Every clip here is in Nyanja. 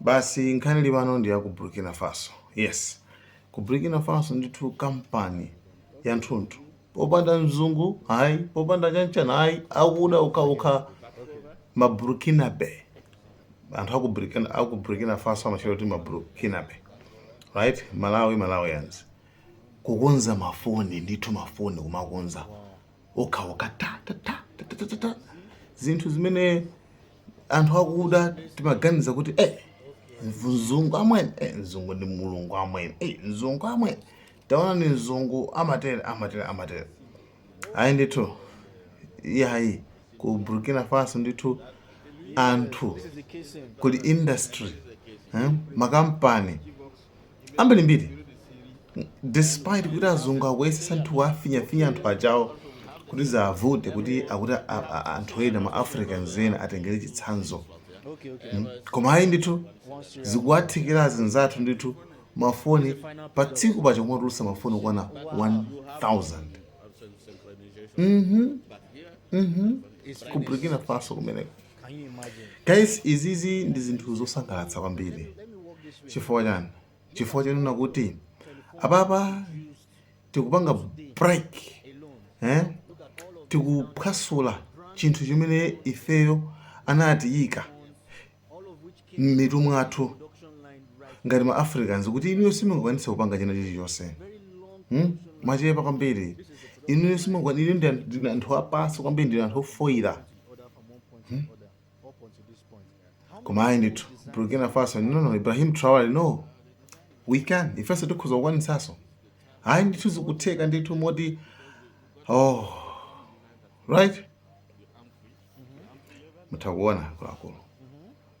basi nkhani ilipano ndi ya ku burkina faso yes ku burkina faso ndithu kampani ya nthunthu popanda mzungu ayi popanda chanchana ayi akuda okhaokha ma burkinabe anthu aku burkina, aku burkina faso amachita kuti ma burkinabe right malawi malawians kukonza mafoni ndithu mafoni kumakonza okhaokha ta ta ta ta ta ta ta ta. zinthu zimene anthu akuda timaganiza kuti eh, mzungu amwene eh, mzungu ndi mulungu amwene eh, mzungu amwene taonani mzungu amatere amatere amatere ayi ndithu iyayi ku burkina faso ndithu anthu kuli industry eh, makampani ambirimbiri despite kuti azungu akuyesetsa ndithu kuwafinyafinya anthu ajawo kuti ziwavute kuti akuti a- a- anthu ena ma africans ena atengere chitsanzo Mm. koma ayi ndithu zikuwathekera anzathu ndithu mafoni pa tsiku pajatu kumatulutsa mafoni okwana 1000 mhm mhm ku burkina faso kumeneko Guys, zizi ndi zinthu zosangalatsa kwambiri chifukwa chani chifukwa chonena kuti apapa tikupanga break eh? tikuphwasula chinthu chimene ifeyo anatiyika m'mitu mwathu ngati ma africans kuti inuyo simungakwanitse kupanga china chilichonse hmm? mwachepa kwambiri inuyo simungakwanitse ndinu anthu apansi kwambiri ndinu anthu ofoyira Hmm? koma ayi ndithu burkina faso no no ibrahim traore no we can ifenso tikhoza kukwanisaso ayi ndithu zikutheka ndithu moti oh right mutha kuona akuluakulu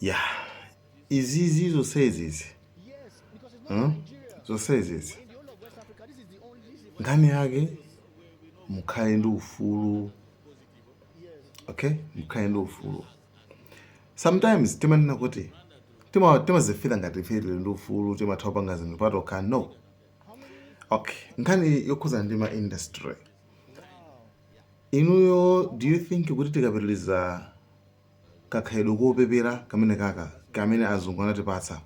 Yeah. Izizi zonsezi izi huh? zonsezi izi nkhani yake mukhale ndi ufulu okay mukhale ndi ufulu sometimes timanena kuti timazifila ngati ife tili ndi ufulu timatha kupanga zinthu patokha no okay nkhani yokhudzana ndi ma industry inuyo do you think kuti tikapitiliza kakhalidwe kopepera kamenekaka kamene azungu anatipatsa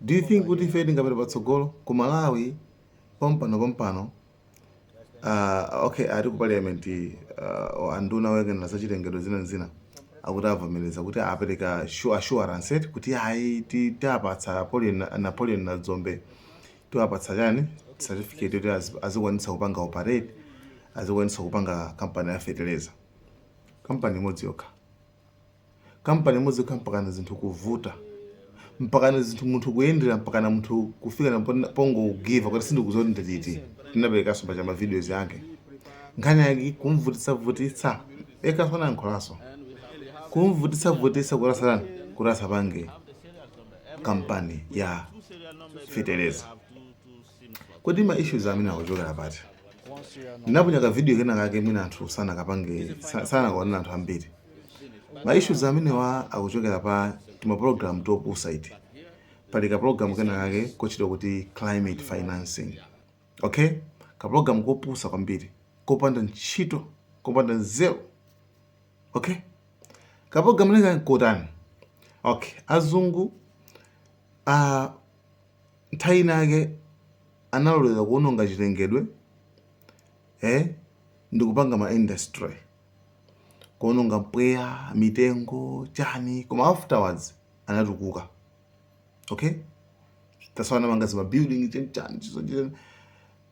do you think kuti ife tingapita patsogolo ku malawi pompano pompano uh, okay ati ku parliament uh, anduna oyang'anira za chilengedwe zina zina akuti avomereza kuti apereka shu- assurance eti kuti ayi ti- tiapatsa Napoleon- napoleon dzombe tiwapatsa chani certificate yoti azi- azikwanitsa kupanga operate azikwanitsa kupanga kampani ya fertilizer kampani imodzi yokha kampani imodzi yokha mpakana zinthu kuvuta mpakana zinthu munthu kuyendera mpakana munthu kufikana pon- pongogiva kuti sindikuziwa kuti ndiliti tinaperekanso paja ma videos ake nkhani yake kumvutitsavutitsa yekanso anayankhulanso kumvutitsavutitsa kuti asana kuti asapange kampani ya feteleza Kodi ma issues amenewa akuchokera pati? Ndinaponya ka video kena kake mwina anthu sanakapange sa- sanakaonere anthu ambiri. Ma issues amenewa akuchokera pa tima program topusa iti. Pali ka program kena kake kotchedwa kuti climate financing. Okay? Ka program kopusa kwambiri, kopanda ntchito, kopanda nzeru. Okay? Ka program neka kotani? Okay, azungu ah nthawi ina yake analolera kuononga chilengedwe eh, ndikupanga ma industry kuononga mpweya mitengo chani koma afterwards anatukuka okay that's why anapanga zima building chani chani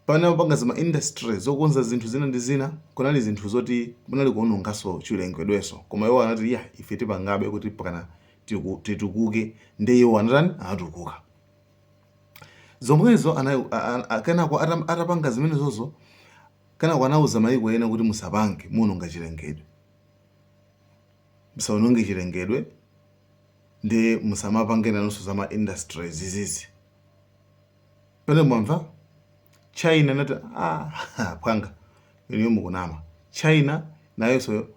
pamene amapanga zima industry zokonza zinthu zina ndi zina kunali zinthu zoti kunali kuonongaso chilengedweso koma iwo anati ya ife tipangabe kuti mpakana tiku, titukuke ndi iwo anatani anatukuka zomwezo ana- a- a- a- kenako atam- atapanga zimenezozo kenako anauza mayiko ena kuti musapange muononga chilengedwe musaononge chilengedwe ndi musamapange nanunso za ma industries zizizi pene mwamva china inati ah, pwanga inuyo mukunama china nayonso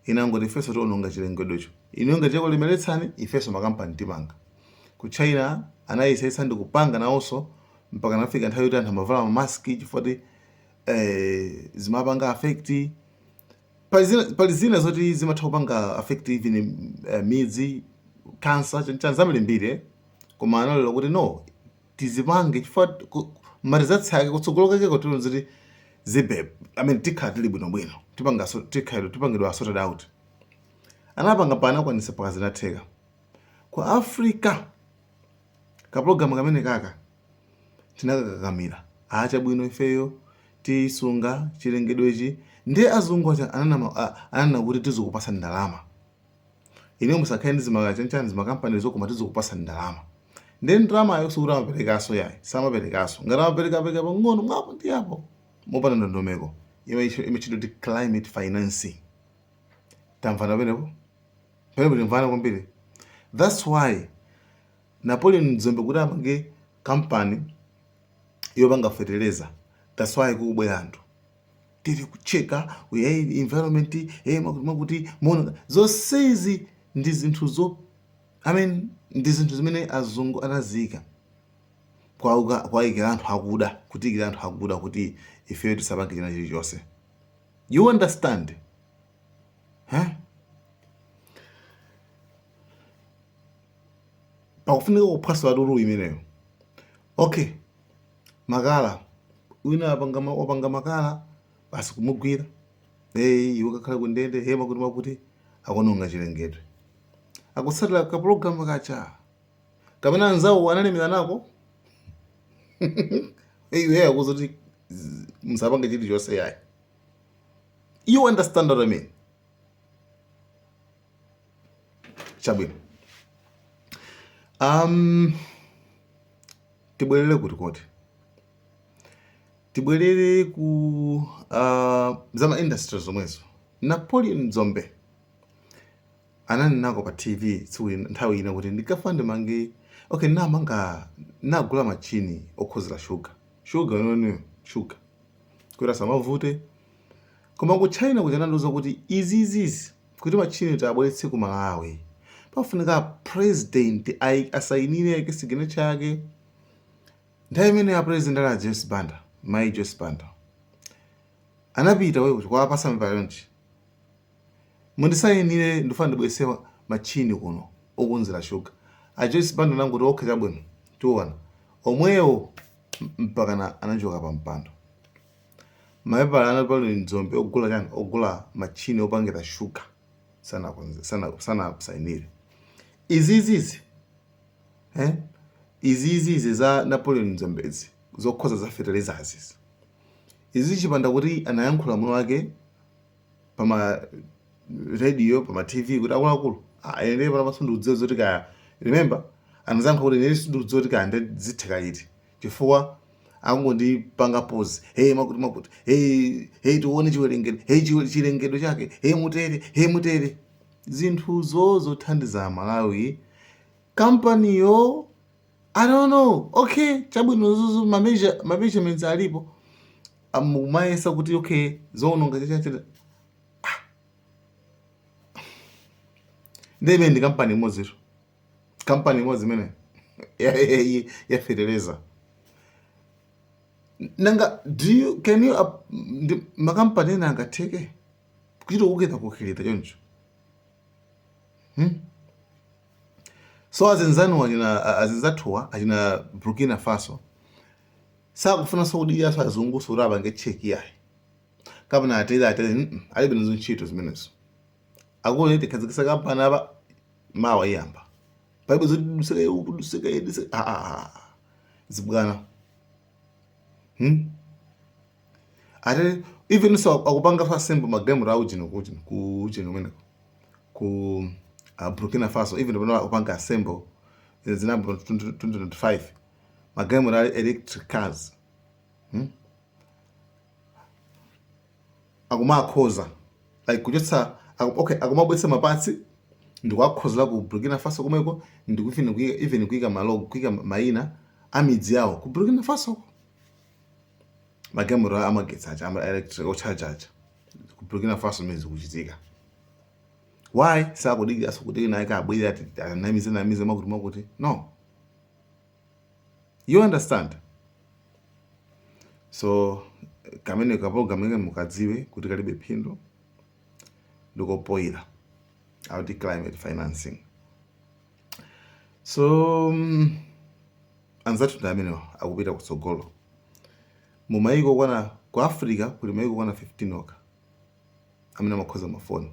inangoti ifenso tiononga chilengedwecho inuyo ngati chakulemeretsani ifenso makampani tipanga. Ku China anayesetsa ndi kupanga nawonso mpaka anafika nthawi yoti anthu amavala ma mask chifukwa ti eh, zimapanga affect pali zina, pali zina zoti zimatha kupanga affect even eh, midzi cancer chani chani zambirimbiri eh. koma analola kuti no tizipange chifukwa ku- ma results ake kutsogolo kake kotero ziti zibe i mean tikhala tili bwinobwino tipangaso tikhala tipangidwa sorted out anapanga pa anakwanisa mpaka zinatheka ku africa kapulogalamu kamenekaka tinakakakamira ah chabwino ifeyo tisunga chilengedwechi ndiye azungu aja ananama- a- ananena kuti tizikupasa ndalama Inuyo musakhale ndi zima chanchani zima companyzo koma tizikupatsani ndalama. Ndiye ndalamayo sikuti amaperekaso yayi, samaperekaso. Ngati amapereka apereka pang'ono mwa apo ndi apo. Mopanda ndondomeko. Iyo imatchedwa kuti climate financing. Tamvana pamenepo? Pamenepo timvana kwambiri. That's why Napoleon Dzombe kuti apange company yopanga feteleza. That's why kukubwera anthu. tiri kucheka hey, environment hey, makuti makuti mwamuti zonsezi ndi zinthu zo I mean, ndi zinthu zimene azungu anaziyika kwauka- kuwayikira anthu akuda kutiyikira anthu akuda kuti ifeyo tisapange china chilichonse you understand huh? pakufunika kuphwasula lulu imeneyo okay makala wina apanga ma- wapanga makala basi kumugwira hey, iwe kakhala ku ndende hey, makuti makuti akononga chilengedwe akutsatira kapulogalamu kaja kamene anzawo analemera nako iwe akuuza kuti z- musapange chilichonse yayi you understand what I mean chabwino um, Tibwerere kuti koti? Tibwerere ku uh, za ma industry zomwezo. Napoleon Dzombe ananenako pa TV tsiku nthawi ina kuti ndikafuna ndimange okay, namanga nagula machini okonzera shuga shuga yomweyiyo shuga kuti isamavute koma ku China kuja anandiuza kuti izizizi kuti matchini tiwabweretse ku Malawi pafunika president asayinire aike signature yake. Nthawi imeneyo a president anali a Joyce Banda, Mayi Joyce Banda anapita wewe kuti kukawapatsa mapepala onse mundisayinire ndifuna ndibweretse matchini kuno okonzera shuga. A Joyce Banda anangoti okay chabwino tiona momwemo mpakana anachoka pa mpando. Mapepala a Napoleon Dzombe ogula chani ogula machine opangira sugar sanakuza sana sanasainire izizizi eh izizizi za Napoleon Dzombezi zokhudza za fertilizer zi izi chipanda kuti anayankhula mwini wake pama radio pama TV kuti akuluakulu ine pano sindikudziwa zoti kaya remember anadzayankha kuti ine sindikudziwa kuti kaya ndizitheka iti chifukwa akungondipanga pause hey makuti makuti hey hey tione chiwerengedwe hey chiwe- chilengedwe chake hey mutere hey mutere zinthuzo zothandiza amalawi kampaniyo i don't know okay chabwino zuzu ma measure- ma measurements alipo amumayesa kuti okay zoononga chachachira ndiyeno ndi kampani imodzitu kampani imodzi imene ya- ya- ya- ya feteleza nanga do you, can you ap- ndi- makampani ena angatheke kuchita kuketa kukhalira choncho so azinzanu achina azinzathuwa achina burkina faso sakufunanso kudikiranso azungunso kuti apange cheki ayi kapena atele atele mm, alibe nazo ntchito zimenezo akuone tikhazikisa kampani apa mawa iyamba palibe zoti duseke uku duseke iyi, duseke ah, ah, ah. zibwana hmm? ate even so akupanga fa sembo magemu rawo chino kuchino kuchino kumeneko ku uh, burkina faso even pano akupanga sembo zinabro 2025 magemu ra electric cars hmm? akumakhoza like kuchotsa aku, okay akumabwetsa mapatsi ndikuwakhozera ku Burkina Faso komweko ndiku- even kuika even kuika malogo kuika maina a midzi yawo ku Burkina Faso magalimoto amagetsi aja ama electric ocharge aja ku Burkina Faso ndi zikuchitika why sakudikira sakudikira nayi akabwera ati anamize namize makuti makuti no you understand so kameneka ka program imene mukadziwe kuti kalibe phindu ndi kopoira akuti climate financing so um, anzathutu ndi amenewa akupita kutsogolo mu mayiko okwana ku africa kuli mayiko okwana 15 okha amene amakhoza mafoni